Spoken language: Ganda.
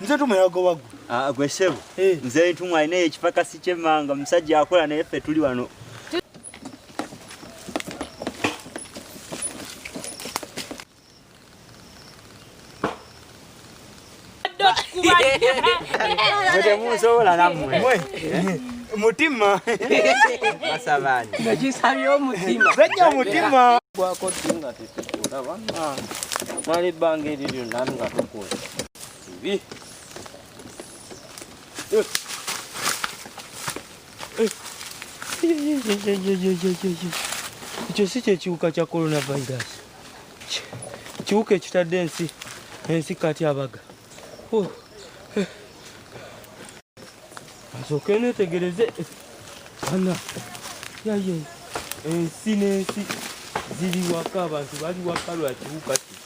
nze ntumwa yagoba gwe ah, gwe sebo eh. nze ntumwa alina ekipakasi kyemmanga omusajja akola naye ffe tuli wano temusobola namwe mutima basabani ekisabye omutima bajja omutima gwako tinga tetukulaba ah. mwali ebbanga eriryo nami nga tukuula Hivi. Eh. Eh. Ekyo si kyekiwuka kya coronavirus kiwuka ekitadde ensi ensi kati abaga oh. eh. asooke netegereze ana yaye ensi n'ensi ziri waka abantu bali waka lwakiwuka